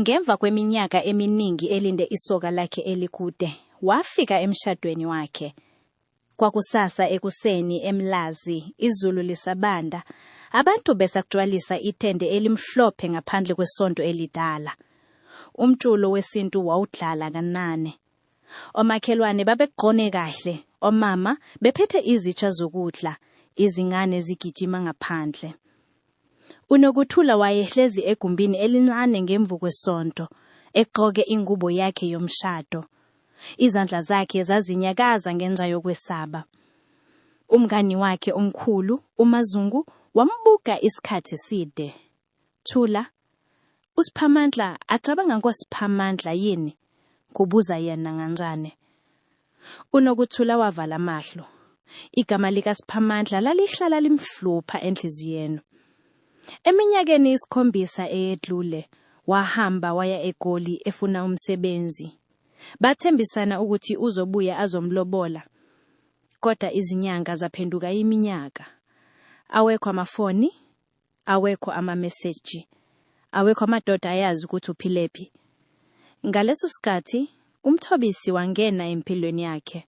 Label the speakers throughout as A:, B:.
A: Ngemva kweminyaka eminingi elinde isoka lakhe elikude, wafika emshadweni wakhe. Kwakusasa ekuseni eMlazi, izulu lisabanda, abantu besakujwalisa itende elimhlophe ngaphandle kwesonto elidala. Umculo wesintu wawudlala kanane, Omakhelwane babegqone kahle, omama bephethe izitsha zokudla, izingane zigijima ngaphandle. UNokuthula wayehlezi egumbini elincane ngemvu kwesonto, egqoke ingubo yakhe yomshado. Izandla zakhe zazinyakaza ngenxa yokwesaba. Umngani wakhe omkhulu, uMaZungu, wambuka isikhathi eside. Thula, USiphamandla acabanga ngoSiphamandla yini? kubuza yena nganxane. UNokuthula wavala amahlo. Igama likaSiphamandla lalihlala limhlupha enhliziyweni. Eminyakeni isikhombisa eyedlule, wahamba waya eGoli efuna umsebenzi. Bathembisana ukuthi uzobuya azomlobola, kodwa izinyanga zaphenduka iminyaka. Awekho amafoni, awekho amameseji, awekho amadoda ayazi ukuthi uphilephi. Ngaleso sikhathi uMthobisi wangena empilweni yakhe.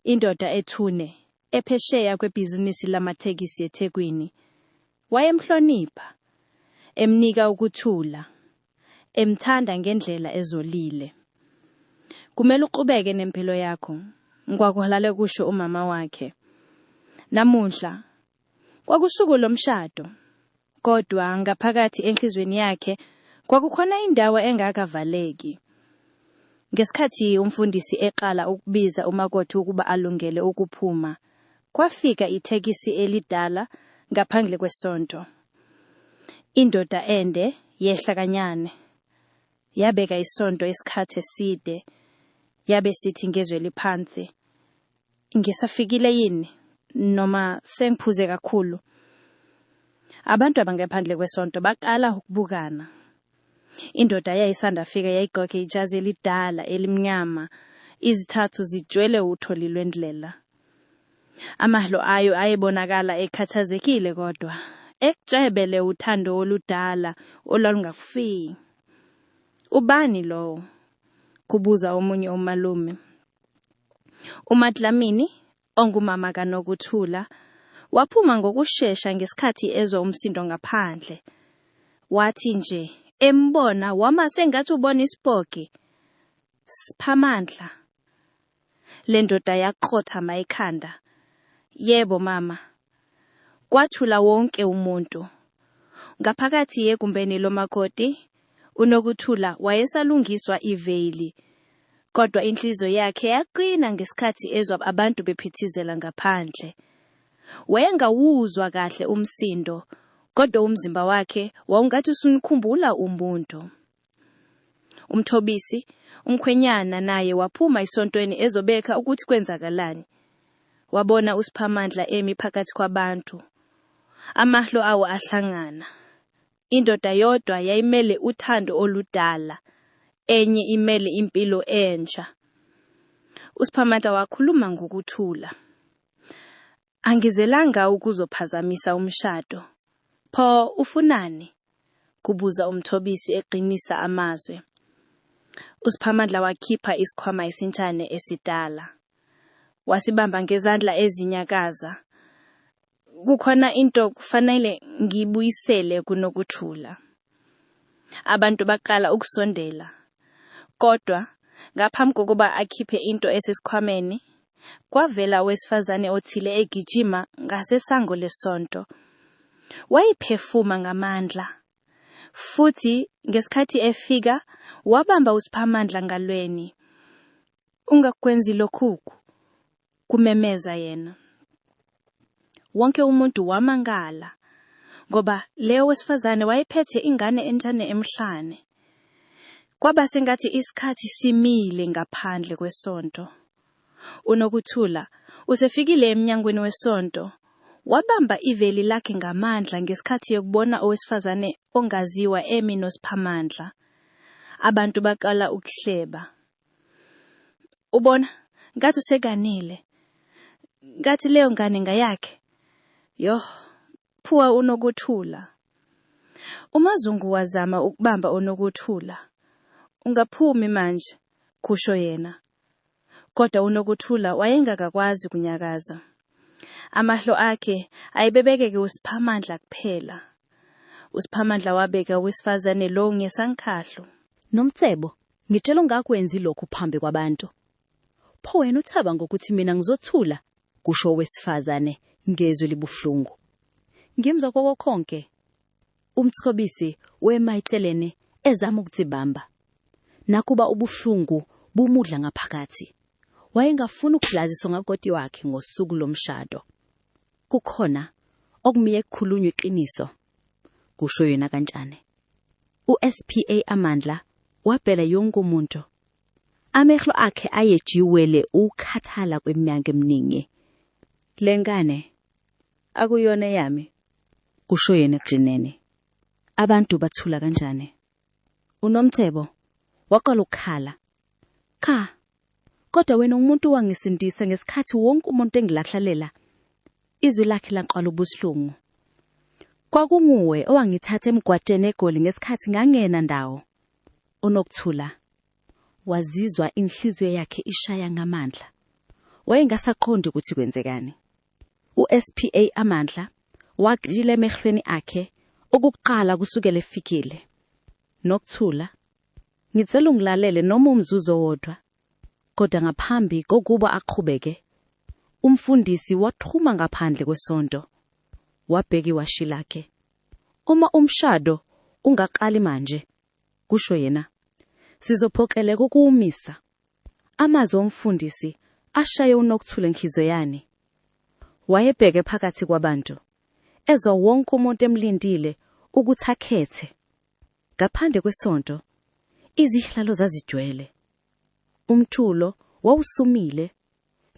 A: Indoda ethune, ephesheya kwebhizinisi lamathekisi eThekwini. Wayemhlonipha, emnika ukuthula, emthanda ngendlela ezolile. Kumele uqhubeke nempilo yakho, kwakuhalale kusho umama wakhe. Namuhla Kwakusuku lomshado. Kodwa ngaphakathi enhlizweni yakhe kwakukhona indawo engakavaleki. Ngesikhathi umfundisi eqala ukubiza umakoti ukuba alungele ukuphuma, kwafika ithekisi elidala ngaphandle kwesonto. Indoda ende yehla kanyane. Yabeka isonto isikhathi eside. Yabe sithi ngezwe liphansi, ngisafikile yini noma sengiphuze kakhulu. Abantu abangephandle kwesonto baqala ukubukana. Indoda yayisanda fika yayigqoke ijazi elidala elimnyama, izithathu zijwele utholi lwendlela. Amahlo ayo ayebonakala ekhathazekile kodwa ekujebele uthando oludala olwalungakufiki. Ubani lowo? kubuza omunye umalume. UMaDlamini, ongumama kaNokuthula, waphuma ngokushesha ngesikhathi ezwa umsindo ngaphandle. Wathi nje embona wama sengathi ubona isipoki. Sphamandla. Le ndoda yakrothama ekhanda. Yebo mama, Kwathula wonke umuntu. Ngaphakathi egumbeni lomakoti, uNokuthula wayesalungiswa iveyili, kodwa inhliziyo yakhe yaqina ngesikhathi ezwa abantu bephithizela ngaphandle. Wayengawuzwa kahle umsindo, kodwa umzimba wakhe wawungathi usunikhumbula umuntu. UMthobisi, umkhwenyana, naye waphuma esontweni ezobeka ukuthi kwenzakalani. Wabona uSiphamandla emi phakathi kwabantu. Amahlo awo ahlangana. Indoda yodwa yayimele uthando oludala, enye imele impilo entsha. USiphamandla wakhuluma ngokuthula. Angizelanga ukuzophazamisa umshado. Pho ufunani? kubuza uMthobisi eqinisa amazwi. USiphamandla wakhipha isikhwama esintshane esidala. Wasibamba ngezandla ezinyakaza. Kukhona into kufanele ngiyibuyisele kuNokuthula. Abantu baqala ukusondela. Kodwa ngaphambi kokuba akhiphe into esesikhwameni, kwavela owesifazane othile egijima ngasesango lesonto. Wayephefuma ngamandla. Futhi ngesikhathi efika, wabamba uSiphamandla ngalweni. Ungakwenzi lokhuku. kumemeza yena. Wonke umuntu wamangala ngoba leyo wesifazane wayephethe ingane entshane emhlane. Kwaba sengathi isikhathi simile ngaphandle kwesonto. UNokuthula usefikile emnyangweni wesonto wabamba iveli lakhe ngamandla ngesikhathi yokubona owesifazane ongaziwa emi noSiphamandla. Abantu baqala ukuhleba. ubona ngathi usekanile ngathi leyo ngane ngayakhe yoh phuwa unokuthula umazungu wazama ukubamba unokuthula ungaphumi manje kusho yena kodwa unokuthula wayengakakwazi kunyakaza amahlo akhe ayebebekeke usiphamandla kuphela usiphamandla wabeka owesifazane lo ngesankhahlo nomcebo
B: Ngitshela ungakwenzi lokhu phambi kwabantu. Pho wena uthaba ngokuthi mina ngizothula, kusho owesifazane ngezwi libuhlungu. Ngimzwa kokokhonke. Umthobisi wema eceleni ezama ukudzibamba. Nakuba ubuhlungu bumudla ngaphakathi. Wayengafuni ukudlaziswa ngakoti wakhe ngosuku lomshado. Kukhona okumiye kukhulunywa iqiniso. kusho yena kantshane uSPA amandla wabhela yonke umuntu amehlo akhe ayejiwele ukhathala kweminyaka eminingi lengane akuyona yami kusho yena ekujineni abantu bathula kanjani unomthebo waqala ukukhala cha Kodwa wena umuntu wangisindisa ngesikhathi wonke umuntu engilahlalela, izwi lakhe laqwala ubuhlungu. Kwakunguwe owangithatha emgwateni eGoli ngesikhathi ngangena ndawo. UNokuthula wazizwa inhliziyo yakhe ishaya ngamandla. Wayengasaqondi ukuthi kwenzekani. USPA amandla wagxila emehlweni akhe okuqala kusukela efikile. Nokuthula Ngicela ungilalele noma umzuzu owodwa. Kodwa ngaphambi kokuba aqhubeke, umfundisi wathuma ngaphandle kwesonto. Wabheka iwashi lakhe. Uma umshado ungaqali manje, kusho yena, sizophoqeleka ukuwumisa. Amazwi omfundisi ashaye uNokthula enhliziyo yani. Wayebheke phakathi kwabantu, ezwa wonke umuntu emlindile ukuthi akhethe Ngaphandle kwesonto, izihlalo zazijwele. Umthulo wawusumile,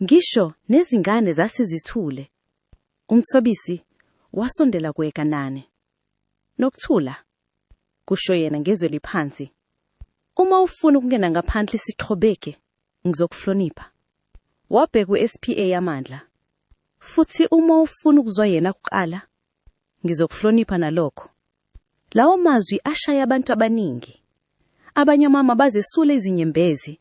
B: ngisho nezingane zasizithule. Umthobisi wasondela kueKanani. Nokuthula, kusho yena ngezwe liphansi. Uma ufuna ukungena ngaphandle sithobeke, ngizokuhlonipha. Wabheka uSPA amandla. Futhi uma ufuna ukuzwa yena kuqala, Ngizokuhlonipha nalokho. Lawo mazwi ashaya abantu abaningi. Abanye omama bazesula izinyembezi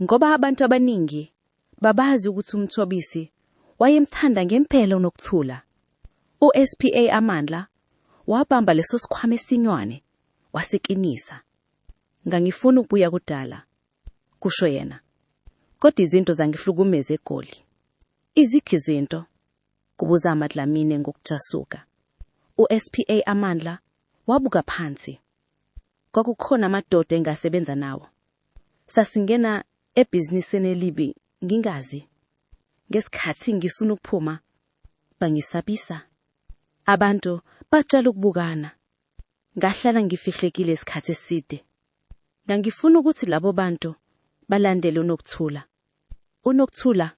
B: ngoba abantu abaningi babazi ukuthi uMthobisi wayemthanda ngempela uNokuthula. USPA Amandla wabamba leso sikhwama esinywane wasiqinisa. Ngangifuna ukubuya kudala, kusho yena. Kodwa izinto zangihlukumeza eGoli. Iziphi izinto? kubuza amadlamini ngokujasuka. USPA Amandla wabuka phansi. Kwakukhona amadoda engasebenza nawo. Sasingena ebhizinisini elibi ngingazi. Ngesikhathi ngisuna ukuphuma bangisabisa. Abantu baqala ukubukana. Ngahlala ngifihlekile isikhathi eside. Ngangifuna ukuthi labo bantu balandele uNokuthula. UNokuthula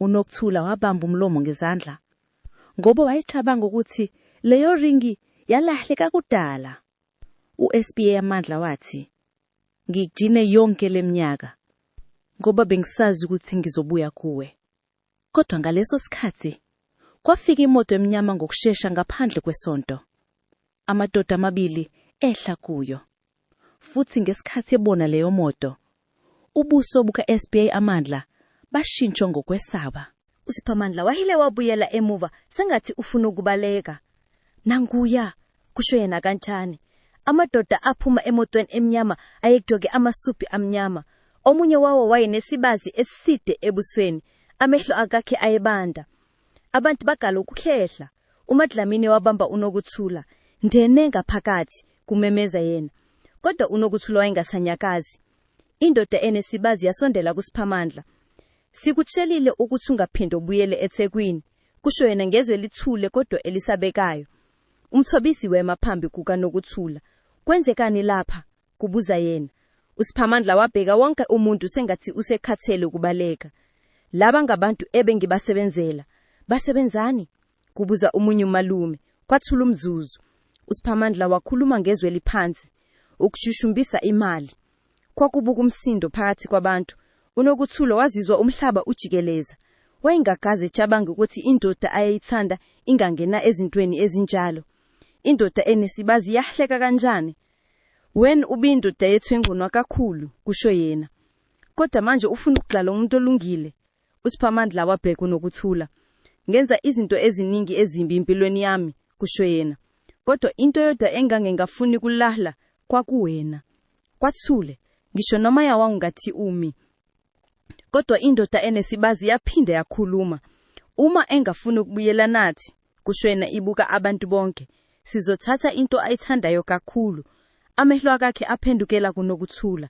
B: UNokuthula wabamba umlomo ngezandla ngoba wayecabanga ukuthi leyo ringi yalahleka kudala. USBA amandla wathi, Ngikujine yonke leminyaka ngoba bengisazi ukuthi ngizobuya kuwe. Kodwa ngaleso sikhathi kwafika imoto emnyama ngokushesha ngaphandle kwesonto. Amadoda amabili ehla kuyo. Futhi ngesikhathi ebona leyomoto, ubuso buka-SBA Amandla bashintshwa ngokwesaba. USiphamandla
C: wahile wabuyela emuva sengathi ufuna ukubaleka. Nanguya! kusho yena kancane. Amadoda aphuma emotweni emnyama ayegcoke amasudi amnyama. Omunye wawo wayenesibazi eside ebusweni, amehlo akakhe ayebanda. Abantu bagala ukukhehla. UMaDlamini wabamba uNokuthula, Ngene ngaphakathi! kumemeza yena. Kodwa uNokuthula wayengasanyakazi. Indoda enesibazi yasondela kuSiphamandla. Sikutshelile ukuthi ungaphinde ubuyele eThekwini, kusho yena ngezwi elithule kodwa elisabekayo. UMthobisi wema phambi kukaNokuthula. Kwenzekani lapha? kubuza yena. USiphamandla wabheka wonke umuntu sengathi usekhathele ukubaleka. Laba ngabantu ebengibasebenzela. Basebenzani? kubuza umunye umalume. Kwathula umzuzu. USiphamandla wakhuluma ngezwi eliphansi, ukushushumbisa imali. Kwakubuka umsindo phakathi kwabantu. UNokuthulo wazizwa umhlaba ujikeleza. Wayengakaze ecabange ukuthi indoda ayeyithanda ingangena ezintweni ezinjalo. Indoda enesibazi yahleka kanjani? Wen ubindoda yethu engqunwa kakhulu, kusho yena. Kodwa manje ufuna ukugxala umuntu olungile? USiphamandla wabheka uNokuthula. Ngenza izinto eziningi ezimbi empilweni yami, kusho yena. Kodwa into eyodwa engange ngafuni kulahla kwakuwena. Kwathule, ngisho noma yawangungathi umi. Kodwa indoda enesibazi yaphinde yakhuluma. Uma engafuni ukubuyela nathi, kushwena ibuka abantu bonke sizothatha into ayithandayo kakhulu amehlo akakhe aphendukela kunokuthula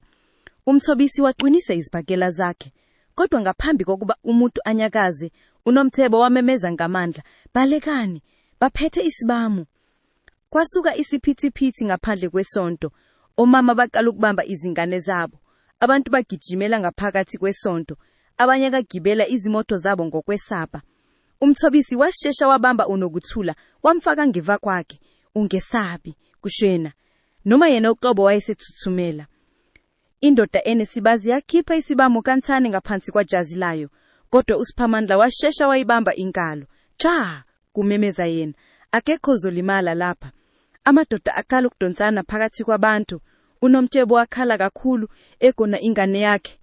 C: umthobisi waqinisa izibhakela zakhe kodwa ngaphambi kokuba umuntu anyakaze unomthebo wamemeza ngamandla balekani baphethe isibamu Kwasuka isiphithiphithi ngaphandle kwesonto. Omama baqala ukubamba izingane zabo. Abantu bagijimela ngaphakathi kwesonto. Abanye kagibela izimoto zabo ngokwesaba. Umthobisi washesha wabamba uNokuthula wamfaka ngiva kwakhe. Ungesabi, kusho yena. Noma yena uqobo wayesethuthumela. Indoda enesibazi yakhipha isibamo kancane ngaphansi kwajazi layo, kodwa uSiphamandla washesha wayibamba inkalo. Cha! kumemeza yena. Akekho ozolimala lapha. Amadoda aqala ukudonsana phakathi kwabantu. UNomtshebo wakhala kakhulu, egona ingane yakhe.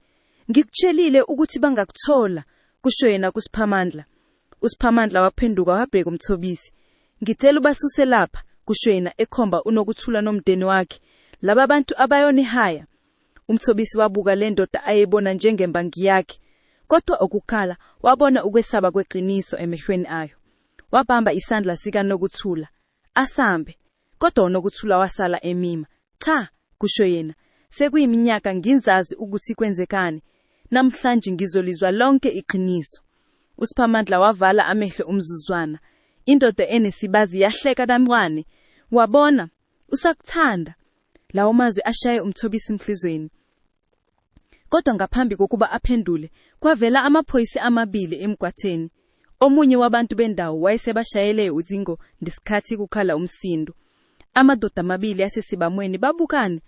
C: Ngikutshelile ukuthi bangakuthola, kusho yena kuSiphamandla. USiphamandla waphenduka wabheka uMthobisi. Ngicela ubasuse lapha, kusho yena ekhomba uNokuthula nomdeni wakhe. Laba bantu abayonihaya. UMthobisi wabuka le ndoda ayebona njengemba ngiyakhe. Kodwa ukukhala wabona ukwesaba kweqiniso emehlweni ayo. Wabamba isandla sikaNokuthula. Asambe. Kodwa uNokuthula wasala emima. Cha, kusho yena. Sekuyiminyaka nginzazi ukuthi kwenzekani. Namhlanje ngizolizwa lonke iqiniso. USiphamandla wavala amehlo umzuzwana. Indoda enesibazi yahleka namncane. Wabona? Usakuthanda. Lawo mazwi ashaye uMthobisi enhlizweni. Kodwa ngaphambi kokuba aphendule, kwavela amaphoyisa amabili emgwatheni. Omunye wabantu bendawo wayesebashayele ucingo ngesikhathi kukhala umsindo. Amadoda amabili asesibamweni babukane.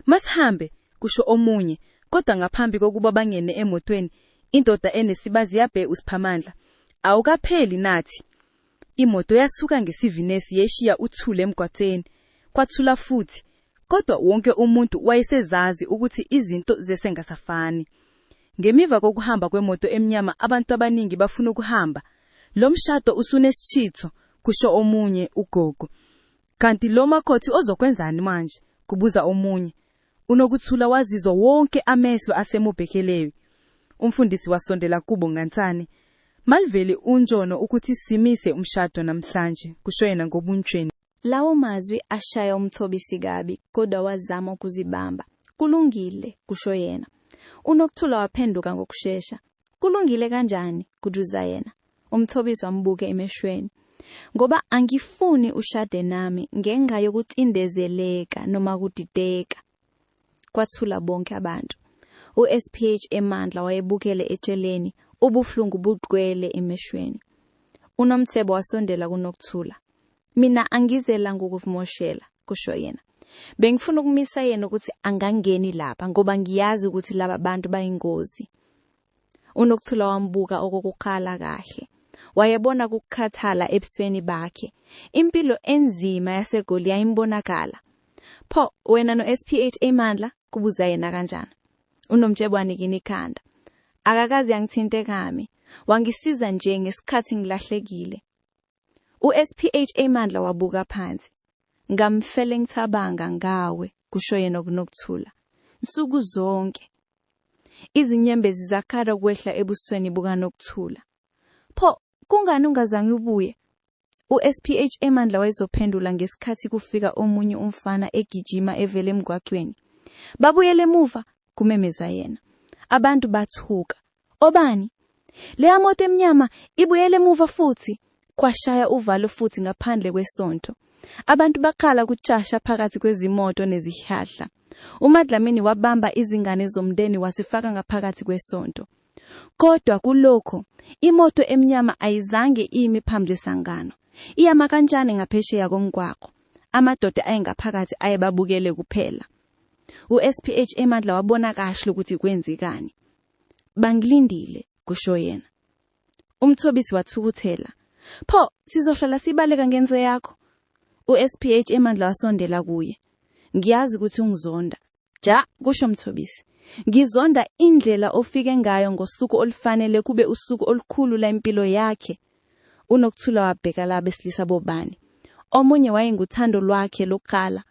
C: Masihambe, kusho omunye, kodwa ngaphambi kokuba bangene emotweni, indoda enesibazi yabhe uSiphamandla. Awukapheli nathi. Imoto yasuka ngesivinesi yeshiya uthuli emgwaqeni. Kwathula futhi, kodwa wonke umuntu wayesezazi ukuthi izinto zesengasafani. Ngemiva kokuhamba kwemoto emnyama abantu abaningi bafuna ukuhamba. Lo mshado usunesithitho, kusho omunye ugogo. Kanti lo makhothi ozokwenzani manje? kubuza omunye. UNokuthula wazizwa wonke amehlo asemubhekelewi. Umfundisi wasondela kubo ngancane. Maliveli uNtshono ukuthi simise umshado namhlanje, kusho yena ngobuntshweni. Lawo mazwi
A: ashaya uMthobisi kabi, kodwa wazama ukuzibamba. Kulungile, kusho yena. UNokuthula waphenduka ngokushesha. Kulungile kanjani? kujuza yena. UMthobisi wambuke emeshweni. Ngoba angifuni ushade nami ngenxa yokucindezeleka noma kudideka. Kwathula bonke abantu. USPH emandla wayebukele etsheleni, ubuhlungu bugcwele emeshweni. UNomthebo wasondela kuNokuthula. Mina angizela ngokuvimoshela, kusho yena. Bengifuna ukumisa yena ukuthi angangeni lapha ngoba ngiyazi ukuthi laba bantu bayingozi. Unokuthula wambuka okokuqala kahle. Wayebona ukukhathala ebusweni bakhe. Impilo enzima yaseGoli yayimbonakala. Pho wena no-SPH Imandla? kubuza yena kanjani. UNomtshebo wanikina ikhanda. Akakaze angithinte kami. Wangisiza nje ngesikhathi ngilahlekile. USPHA Mandla wabuka phansi. Ngamfele ngithabanga ngawe, kusho yena okunokuthula. Nsuku zonke. Izinyembezi zakhala ukwehla ebusweni bukanokuthula. Pho, kungani ungazange ubuye? USPHA Mandla wayezophendula ngesikhathi kufika omunye umfana egijima evela emgwaqweni. Babuyele emuva, kumemeza yena. Abantu bathuka. Obani? Leya moto emnyama ibuyele emuva futhi kwashaya uvalo futhi ngaphandle kwesonto. Abantu baqala ukucasha phakathi kwezimoto nezihlahla. UMadlamini wabamba izingane zomndeni wasifaka ngaphakathi kwesonto. Kodwa kulokho, imoto emnyama ayizange imi phambi lesangano. Iyama kanjani ngaphesheya komgwaqo. Amadoda ayengaphakathi ayebabukele kuphela. USPH eMadla wabona kahle ukuthi kwenzekani. Bangilindile, kusho yena. UMthobisi wathukuthela. Pho, sizohlala sibaleka ngenze yakho. USPH emandla wasondela kuye. Ngiyazi ukuthi ungizonda. Ja, kusho Mthobisi. Ngizonda indlela ofike ngayo ngosuku olufanele kube usuku olukhulu la impilo yakhe. Unokuthula wabheka la besilisa bobani. Omunye wayenguthando lwakhe lokuqala.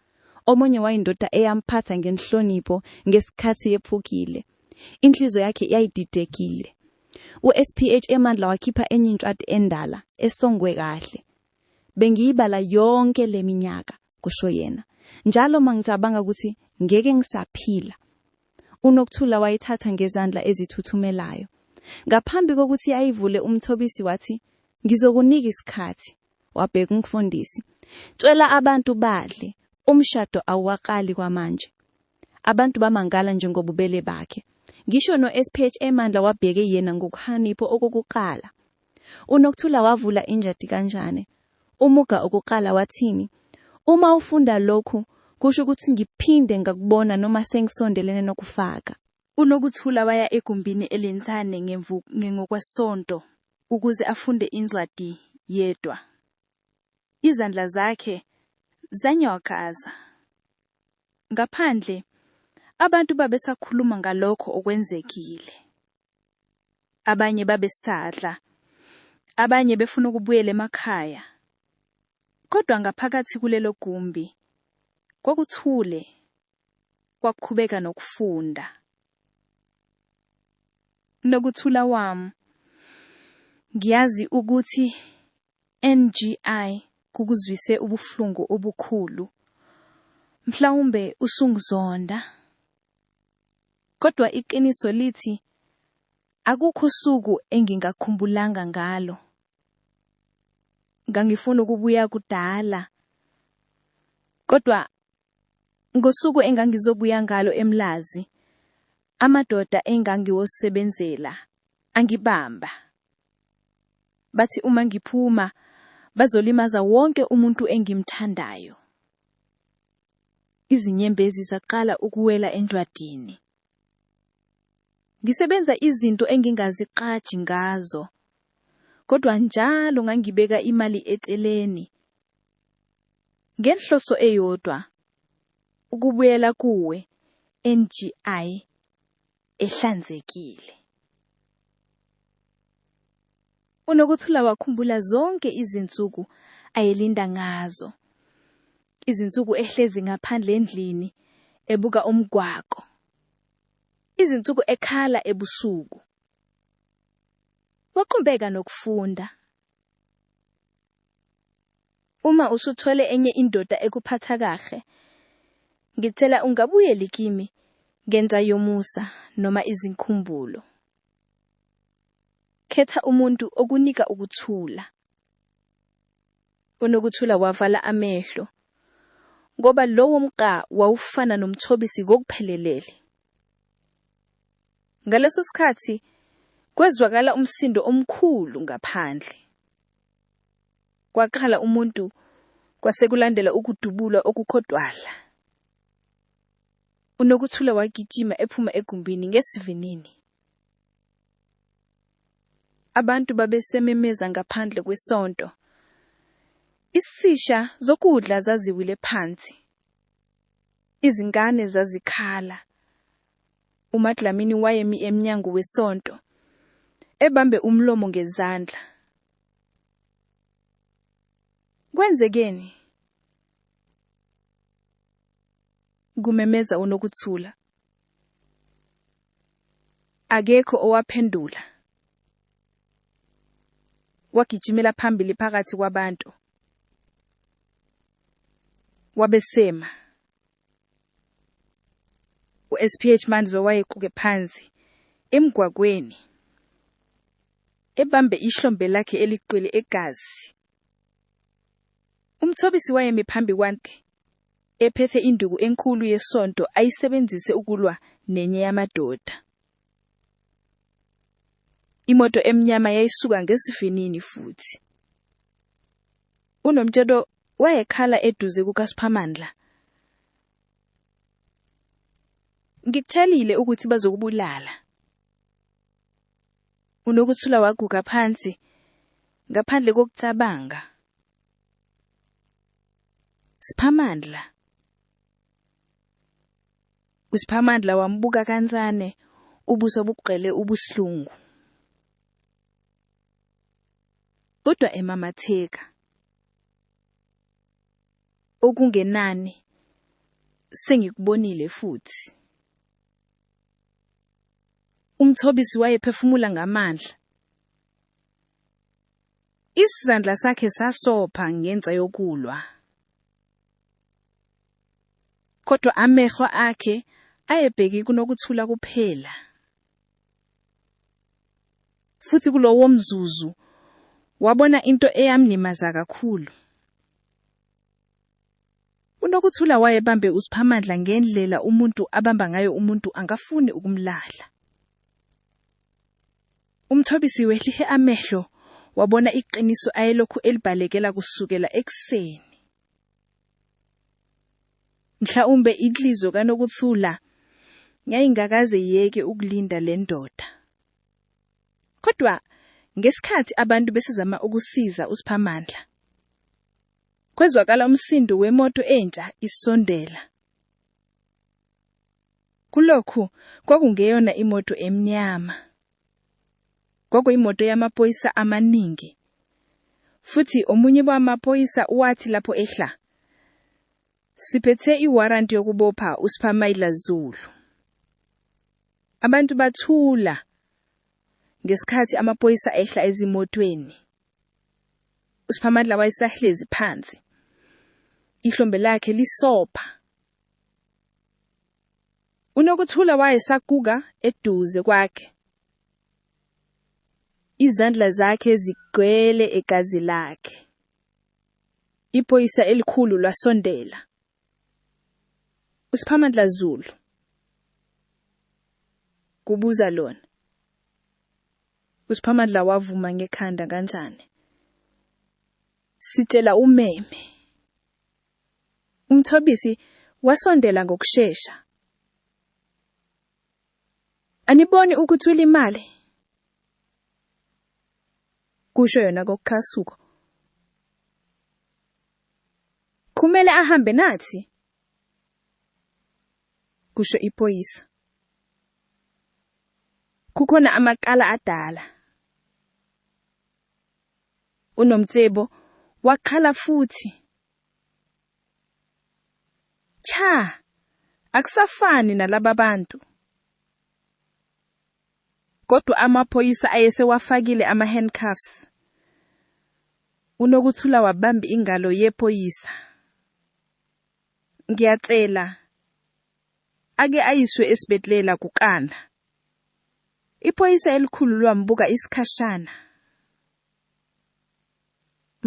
A: Omunye wayindoda eyamphatha ngenhlonipho ngesikhathi yephukile. Inhliziyo yakhe yayididekile. USPH emandla wakhipha enye incwadi endala esongwe kahle. Bengiyibala yonke leminyaka, kusho yena. Njalo mangicabanga ukuthi ngeke ngisaphila. UNokuthula wayithatha ngezandla ezithuthumelayo. Ngaphambi kokuthi ayivule umthobisi wathi, Ngizokunika isikhathi. wabheka umfundisi. Tshela abantu badle, umshado awuwaqali kwamanje. Abantu bamangala njengobubele bakhe. Ngisho no-SPH emandla wabheke yena ngokuhanipho okokuqala. UNokthula wavula injadi kanjane. Umuga okuqala wathini, Uma ufunda lokhu, kusho ukuthi ngiphinde ngakubona noma sengisondelene nokufaka. UNokuthula
D: waya egumbini elincane ngemvu ngengokwesonto ukuze afunde incwadi yedwa. Izandla zakhe zanyakaza. Ngaphandle, abantu babesakhuluma ngalokho okwenzekile. Abanye babesadla, abanye befuna ukubuyela emakhaya. Kodwa ngaphakathi kulelo gumbi kwakuthule kwakuqhubeka nokufunda. Nokuthula wami, ngiyazi ukuthi NGI kukuzwise ubuhlungu obukhulu. Mhlawumbe usungizonda. Kodwa iqiniso lithi akukho usuku engingakhumbulanga ngalo. Ngangifuna ukubuya kudala. Kodwa Ngosuku engangizobuya ngalo eMlazi, amadoda engangiwosebenzela angibamba. Bathi uma ngiphuma bazolimaza wonke umuntu engimthandayo. Izinyembezi zaqala ukuwela enjwadini. Ngisebenza izinto engingaziqaji ngazo. Kodwa njalo ngangibeka imali eceleni Ngenhloso eyodwa ukubuyela kuwe NGI ehlanzekile. UNokuthula wakhumbula zonke izinsuku ayelinda ngazo. Izinsuku ehlezi ngaphandle endlini ebuka umgwaqo. Izinsuku ekhala ebusuku. Waqumbeka nokufunda. Uma usuthole enye indoda ekuphatha kahle, ngicela ungabuyeli kimi ngenza yomusa noma izinkumbulo. Khetha umuntu okunika ukuthula. UNokuthula wavala amehlo ngoba lowo mqa wawufana nomthobisi ngokuphelelele. Ngaleso sikhathi kwezwakala umsindo omkhulu ngaphandle. Kwaqala umuntu kwasekulandela ukudubula okukhodwala. UNokuthula wagijima ephuma egumbini ngesivinini. Abantu babesememeza ngaphandle kwesonto. Isisha zokudla zaziwile phansi. Izingane zazikhala. uMaDlamini wayemi emnyango wesonto, ebambe umlomo ngezandla. Kwenzekeni? kumemeza uNokuthula. Akekho owaphendula. Wagijimela phambili phakathi kwabantu. Wabesema uSPH Mandlo wayequke phansi emgwagweni ebambe ihlombe lakhe eliqwele egazi. Umthobisi wayemi phambi kwakhe ephethe induku enkulu yesonto ayisebenzise ukulwa nenye yamadoda. Imoto emnyama yayisuka ngesivinini futhi. UNomtshelo wayekhala eduze kukaSiphamandla. Ngikutshelile ukuthi bazokubulala. Unokuthula waguga phansi ngaphandle kokucabanga. Siphamandla. USiphamandla wambuka kancane ubuso bubugqele ubuhlungu. Kodwa emamatheka. okungenani sengikubonile futhi. Umthobisi wayephefumula ngamandla. Isizandla sakhe sasopha ngenxa yokulwa. Kodwa amehlo akhe ayebheki kunokuthula kuphela. Futhi kulowo mzuzu wabona into eyamlimaza kakhulu. UNokuthula wayebambe uSiphamandla ngendlela umuntu abamba ngayo umuntu angafuni ukumlahla. UMthobisi wehlihe amehlo wabona iqiniso ayelokhu elibalekela kusukela ekuseni. Mhlawumbe inhliziyo kaNokuthula yayingakaze yeke ukulinda le ndoda. Kodwa ngesikhathi abantu besezama ukusiza uSiphamandla, kwezwakala umsindo wemoto entsha isondela. Kulokhu kwakungeyona imoto emnyama, Kwakuyimoto yamaphoyisa amaningi. Futhi omunye bamaphoyisa wathi lapho ehla, Siphethe iwaranti yokubopha uSphamayila Zulu. Abantu bathula ngesikhathi amaphoyisa ehla ezimotweni. USphamadla wayesahlezi phansi. Ihlombe lakhe lisopha. UNokuthula wayesakuka eduze kwakhe, izandla zakhe zigcwele egazi lakhe. Iphoyisa elikhulu lwasondela. USiphamandla Zulu, kubuza lona. USiphamandla wavuma ngekhanda kanjani. Sitshela umeme. UMthobisi wasondela ngokushesha. Aniboni ukuthi ulimale? Kusho yona kokukhasuko. Kumele ahambe nathi. Kusho iphoyisa. Kukhona amakala adala. UNomcebo wakhala futhi. Cha, akusafani nalaba bantu. Kodwa amaphoyisa ayesewafakile ama-handcuffs. UNokuthula wabamba ingalo yephoyisa. Ngiyacela. Ake ayiswe esibedlela kukana. Iphoyisa elikhulu lwambuka isikhashana.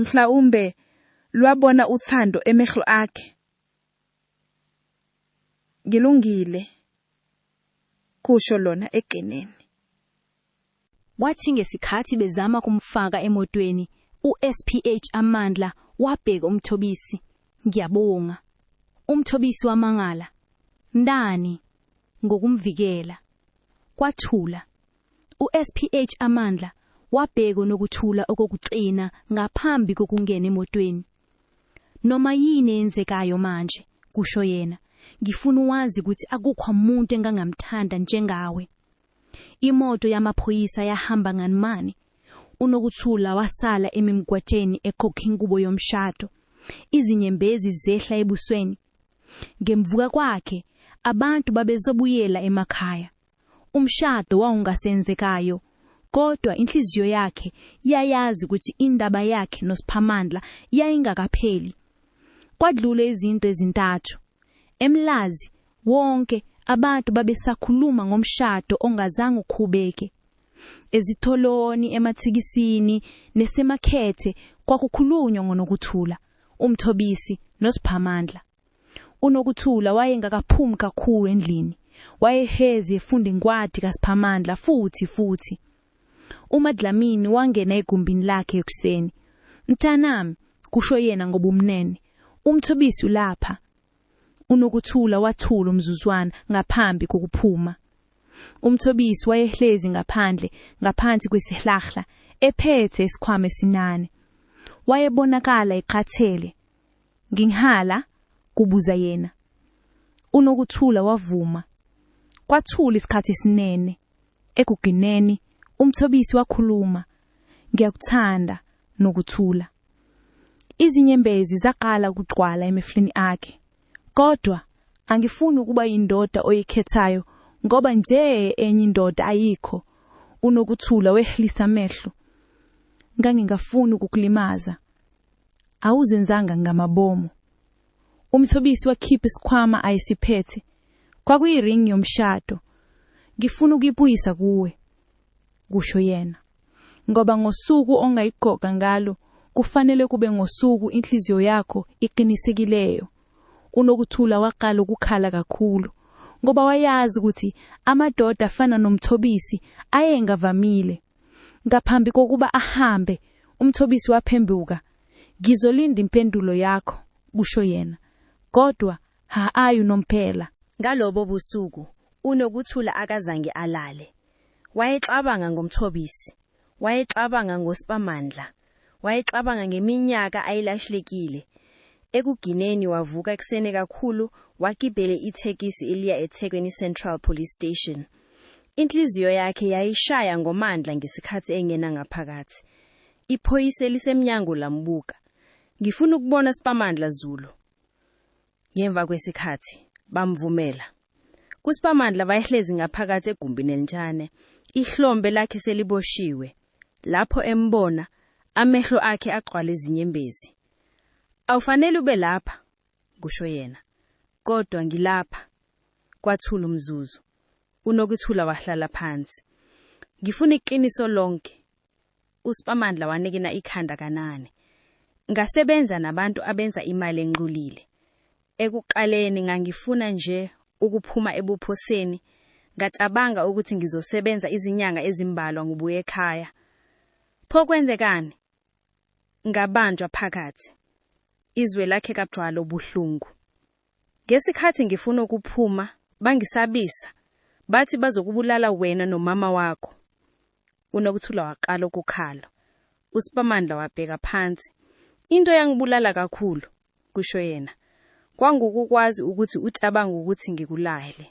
D: Mhlawumbe lwabona uthando emehlo akhe. Ngilungile, kusho lona egeneni.
E: Kwathi ngesikhathi bezama kumfaka emotweni, uSPH Amandla wabheka uMthobisi. Ngiyabonga. UMthobisi wamangala. Ndani? Ngokumvikela. Kwathula. USPH Amandla wabheka uNokuthula okokuxina ngaphambi kokungena emotweni. Noma yini eyenzekayo manje, kusho yena, ngifuna uwazi ukuthi akukho muntu engangamthanda njengawe. Imoto yamaphoyisa yahamba nganimani. UNokuthula wasala emimgwatsheni ekhokha ingubo yomshado. Izinyembezi zehla ebusweni. Ngemvuka kwakhe, abantu babezobuyela emakhaya. Umshado wawungasenzekayo, kodwa inhliziyo yakhe yayazi ukuthi indaba yakhe noSiphamandla yayingakapheli. Kwadlule izinto ezintathu. Emlazi wonke abantu babesakhuluma ngomshado ongazange ukhubeke. Ezitholoni, emathikisini nesemakhethe kwakukhulunywa ngoNokuthula, uMthobisi noSiphamandla. UNokuthula wayengakaphumi kakhulu endlini. Wayehezi efunda inkwadi kaSiphamandla futhi futhi. UMaDlamini wangena egumbini lakhe ekuseni. Mtanami, kusho yena ngobumnene, uMthobisi ulapha. UNokuthula wathula umzuzwana ngaphambi kokuphuma. UMthobisi wayehlezi ngaphandle ngaphansi kwesihlahla ephethe isikhwama esinane. Wayebonakala ekhathele. Nginhala? kubuza yena. UNokuthula wavuma. Kwathula isikhathi esinene. Ekugineni uMthobisi wakhuluma. Ngiyakuthanda nokuthula. Izinyembezi zaqala ukugcwala emehlweni akhe. Kodwa angifuni ukuba yindoda oyikhethayo ngoba nje enye indoda ayikho. Unokuthula wehlisa amehlo. Ngangingafuni ukukulimaza. Awuzenzanga ngamabomu. Umthobisi wakhipha isikhwama ayesiphethe. Kwakuyiring yomshado. Ngifuna ukuyibuyisa kuwe. kusho yena, ngoba ngosuku ongayigqoka ngalo kufanele kube ngosuku inhliziyo yakho iqinisekileyo. UNokuthula waqala ukukhala kakhulu ngoba wayazi ukuthi amadoda afana noMthobisi ayengavamile. Ngaphambi kokuba ahambe, uMthobisi waphembuka. Ngizolinda impendulo yakho, kusho yena. Kodwa ha-ayi unomphela. Ngalobo
C: busuku uNokuthula akazange alale. Wayecabanga ngoMthobisi. Wayecabanga ngoSipamandla. Wayecabanga ngeminyaka ayilashlekile. Ekugineni wavuka ekuseni kakhulu wagibele ithekisi eliya eThekwini Central Police Station. Inhliziyo yakhe yayishaya ngomandla ngesikhathi engena ngaphakathi. Iphoyisa elisemnyango lambuka. Ngifuna ukubona Sipamandla Zulu. Ngemva kwesikhathi, bamvumela. KuSiphamandla wayehlezi ngaphakathi egumbini elincane, ihlombe lakhe seliboshiwe. Lapho embona, amehlo akhe agcwala izinyembezi. Awufanele ube lapha, kusho yena. Kodwa ngilapha. Kwathula umzuzu. UNokuthula wahlala phansi. Ngifuna iqiniso lonke, uSpamandla wanikina ikhanda kanane. Ngasebenza nabantu abenza imali enxulile. Ekuqaleni ngangifuna nje ukuphuma ebuphoseni, ngacabanga ukuthi ngizosebenza izinyanga ezimbalwa ngubuye ekhaya. Pho kwenzekani? Ngabanjwa phakathi. Izwe lakhe kagcwala ubuhlungu. Ngesikhathi ngifuna ukuphuma, bangisabisa, bathi bazokubulala wena nomama wakho. UNokuthula waqala ukukhala. USipamandla wabheka phansi. Into eyangibulala kakhulu, kusho yena, kwangukukwazi ukuthi ucabanga ukuthi ngikulahele.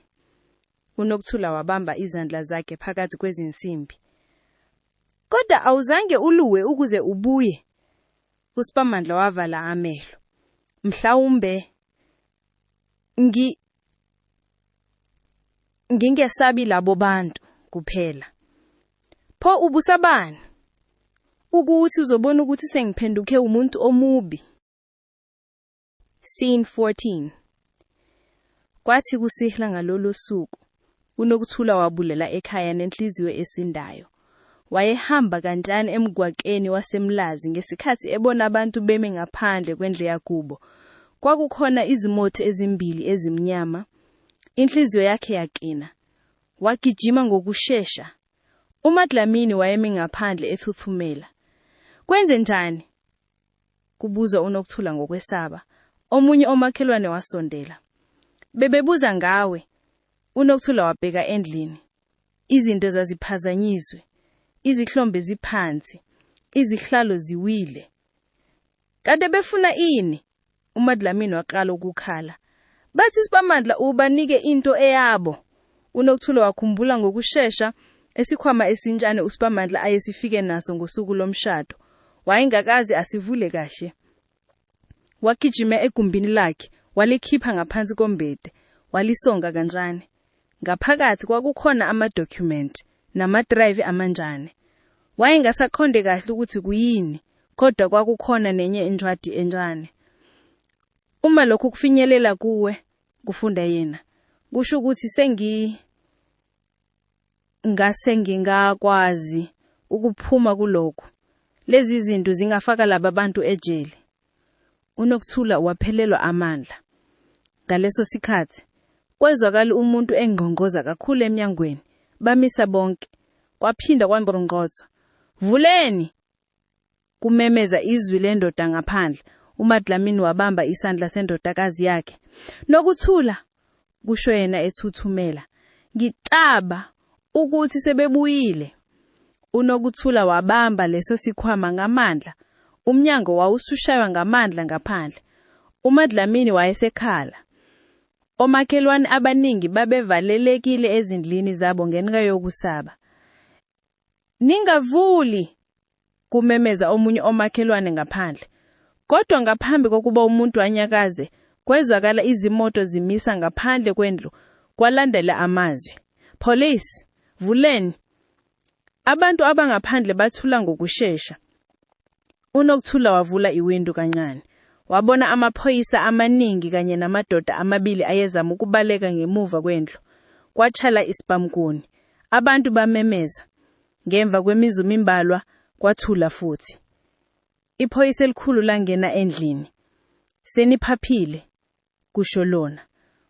C: UNokuthula wabamba izandla zakhe phakathi kwezinsimbi. Kodwa awuzange uluwe ukuze ubuye. USipamandla wavala amehlo. Mhlawumbe ngi ngingesabi labo bantu kuphela. Pho ubusabani? Ukuthi uzobona ukuthi sengiphenduke umuntu omubi. Scene 14 Kwathi kusihla ngalolo suku, uNokuthula wabulela ekhaya nenhliziyo esindayo. Wayehamba kantshani emgwaqeni waseMlazi ngesikhathi ebona abantu beme ngaphandle kwendle yakubo. Kwakukhona izimothi ezimbili ezimnyama. Inhliziyo yakhe yaqina. Wagijima ngokushesha. UMaDlamini wayemi ngaphandle ethuthumela. Kwenze njani? kubuza uNokuthula ngokwesaba. Omunye omakhelwane wasondela. Bebebuza ngawe. UNokuthula wabheka endlini. Izinto zaziphazanyiswe. Izihlombe ziphansi. Izihlalo ziwile. Kade befuna ini? uMadlamini waqala ukukhala. Bathi isipamandla ubanike into eyabo. UNokuthula wakhumbula ngokushesha esikhwama esintshane uSipamandla ayesifike naso ngosuku lomshado. Wayengakazi asivule kahle. Wagijima egumbini lakhe, walikhipha ngaphansi kombede, walisonga kancane. Ngaphakathi kwakukhona amadokhumenti namadrayivi amanjane. Wayengasaqonde kahle ukuthi kuyini, kodwa kwakukhona nenye incwadi encane. Uma lokhu kufinyelela kuwe, kufunda yena, kusho ukuthi sengi ngase ngingakwazi ukuphuma kulokhu. Lezi zinto zingafaka laba bantu ejele. UNokuthula waphelelwa amandla. Ngaleso sikhathi, kwezwakala umuntu engqongqoza kakhulu emnyangweni, bamisa bonke.
F: Kwaphinda kwangqongqothwa, Vuleni! kumemeza izwi lendoda ngaphandle. UMaDlamini wabamba isandla sendodakazi yakhe. Nokuthula, kusho yena ethuthumela. Ngicaba ukuthi sebebuyile. UNokuthula wabamba leso sikhwama ngamandla. Umnyango wawusushaywa ngamandla ngaphandle. UMaDlamini wayesekhala. Omakhelwane abaningi babevalelekile ezindlini zabo ngenxa yokusaba. Ningavuli! kumemeza omunye omakhelwane ngaphandle. Kodwa ngaphambi kokuba umuntu anyakaze, kwezwakala izimoto zimisa ngaphandle kwendlu kwalandela amazwi, Police! Vuleni! Abantu abangaphandle bathula ngokushesha. uNokuthula wavula iwindu kancane. Wabona amaphoyisa amaningi kanye namadoda amabili ayezama ukubaleka ngemuva kwendlu. Kwatshala isibhamkuni. Abantu bamemeza. Ngemva kwemizu mimbalwa, kwathula futhi. Iphoyisa elikhulu langena endlini. Seniphaphile? kusho lona.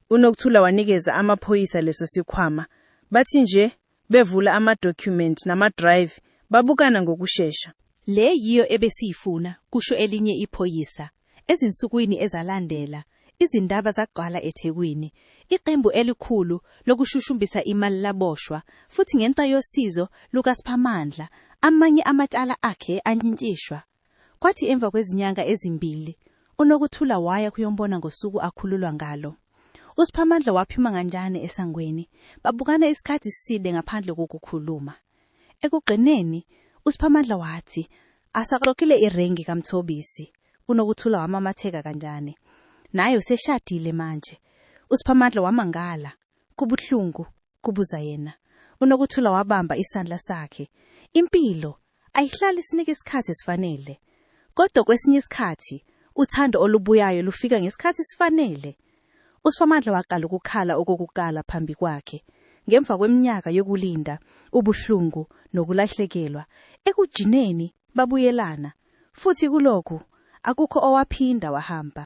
F: UNokuthula wanikeza amaphoyisa leso sikhwama. Bathi nje bevula ama-document nama-drive babukana ngokushesha. Le yiyo
B: ebesiyifuna, kusho elinye iphoyisa. Ezinsukwini ezalandela, izindaba zagcwala eThekwini. Iqembu elikhulu lokushushumbisa imali laboshwa, futhi ngenxa yosizo lukaSiphamandla, amanye amacala akhe anyintishwa. Kwathi emva kwezinyanga ezimbili, uNokuthula waya kuyombona ngosuku akhululwa ngalo. USiphamandla waphuma nganjane esangweni, babukana isikhathi side ngaphandle kokukhuluma. Ekugcineni, uSiphamandla wathi, Asaxoxile irengi kaMthobisi. UNokuthula wamamatheka kanjane. Naye useshadile manje. USiphamandla wamangala. Kubuhlungu, kubuza yena. UNokuthula wabamba isandla sakhe. Impilo ayihlali sinike isikhathi esifanele. Kodwa kwesinye isikhathi uthando olubuyayo lufika ngesikhathi esifanele. USphamandla waqala ukukhala okokukala phambi kwakhe. Ngemva kweminyaka yokulinda, ubuhlungu nokulahlekelwa, ekujineni babuyelana. Futhi kulokhu akukho owaphinda wahamba.